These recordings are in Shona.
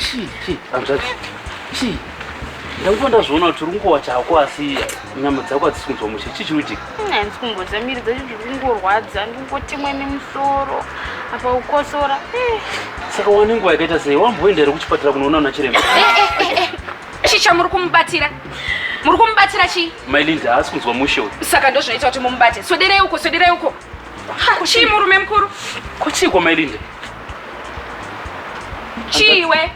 chii chii hanzvadzi chii ndakuva ndazviona kuti uri kungowa chako asi nyama dzako hadzisi kunzwa mushe chii chiri kuitika handisi kumbodza miri dzacho ndiri kungorwadza ndiri kungotemwa nemusoro apa kukosora eh. saka wane nguva yakaita sei wamboenda here kuchipatara kunoona una chiremba eh, eh, chii chamuri kumubatira muri kumubatira chii mailinda haasi kunzwa mushe uyu saka ndozvinoita kuti mumubate swederei uko swederei uko Ha, chii murume mukuru? Ko chii kwa Mailinde? Chiiwe?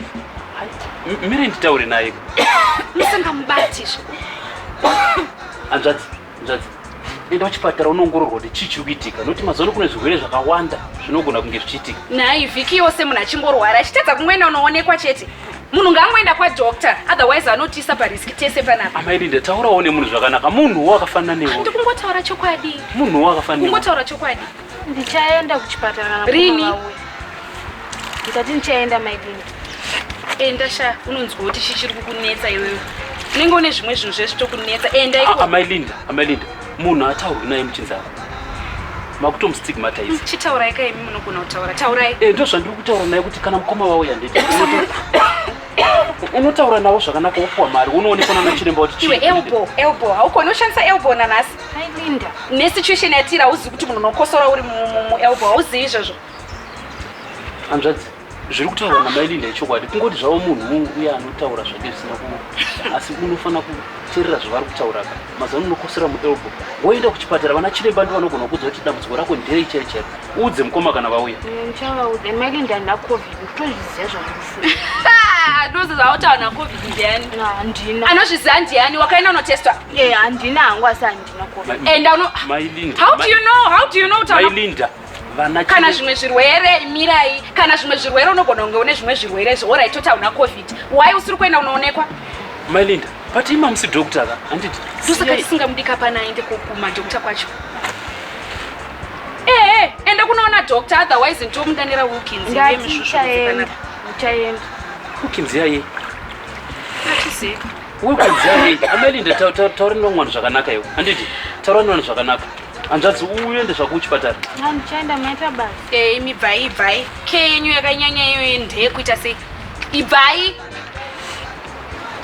M- Miri nditaure naye. Musingamubati izvo. Hanzvadzi, hanzvadzi. Enda kuchipatara unoongororwa kuti chii chiri kuitika. Nokuti mazano kune zvirwere zvakawanda zvinogona kunge zvichiitika. Nhai vhiki yose munhu achingorwara achitadza kumwena unoonekwa chete. munhu ngaangoenda kwadoctor otherwise anotiisa pariski tese panapa amaidi ndataurawo nemunhu zvakanaka munhuwo akafanana newe ndikungotaura chokwadi munhuwo akafanana kungotaura chokwadi ndichaenda kuchipatara rini ndikati ndichaenda maidini enda sha unonzwa kuti chichiri kukunetsa iwewe unenge une zvimwe zvinhu zvese tokunetsa enda iko amailinda amailinda munhu ataurwi naye muchinzava makutomustigmatize chitaurai ka imi munogona kutaura taurai e ndo zvandiri kutaura naye kuti kana mukoma wavo yandei unotaura navo zvakanaka wopuwa mari unoonekwa nana chiremba kuti iwe elbo elbo haukoni ushandisa elbo nanhasi ailinda nesituation yatira hauzivi kuti munhu unokosora uri muelbo hauzivi izvozvo hanzvadzi zviri kutaurwa namai linda ichokwadi kungoti zvavo munhu uye anotaura zvake zvisina ku asi unofanira kuterera zvavari kutaura ka mazano unokosera muelbo woenda kuchipatara vana chiremba ndi vanogona kuudza kuti dambudziko rako nderei chero chero uudze mukoma kana vauya anozviziva ndiani wakaenda unotestwa handina hangu asi handina covid and how do you know how do you know kuti kana zvimwe zvirwere mirai kana zvimwe zvirwere unogona kunge une zvimwe zvirwere izvo orit toti hauna covid why usiri kuenda unoonekwa mailinda but ima musi doctor ka handiti ndosaka tisingamudi kapana aende kokuma doctor kwacho ehe eh, ende kunoona doctor otherwise ndomudanira wilkins iye misvusvuaenda wilkins yaye atizii wilkins yaye amalinda taura ndomwana zvakanaka iwo handiti taura ndomwana zvakanaka Hanzvadzi uende zvako kuchipatara. Mama ndichaenda maita basa. Eh imi bvai bvai. Ke yenyu yakanyanya iyo yendhe kuita sei? Ibvai.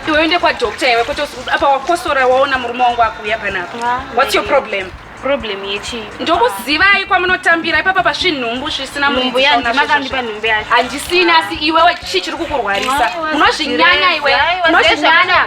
Iwe uende kwa doctor iwe kuti apa wakosora waona murume wangu akuuya panapa. Ah, What's your problem? Problem yechi. Ndokuzivai kwamunotambira ipapa pasvinhumbu zvisina munhu yangu makandipa nhumbu yacho. Handisina asi iwewe chii chiri kukurwarisa? Unozvinyanya iwe. Unozvinyanya.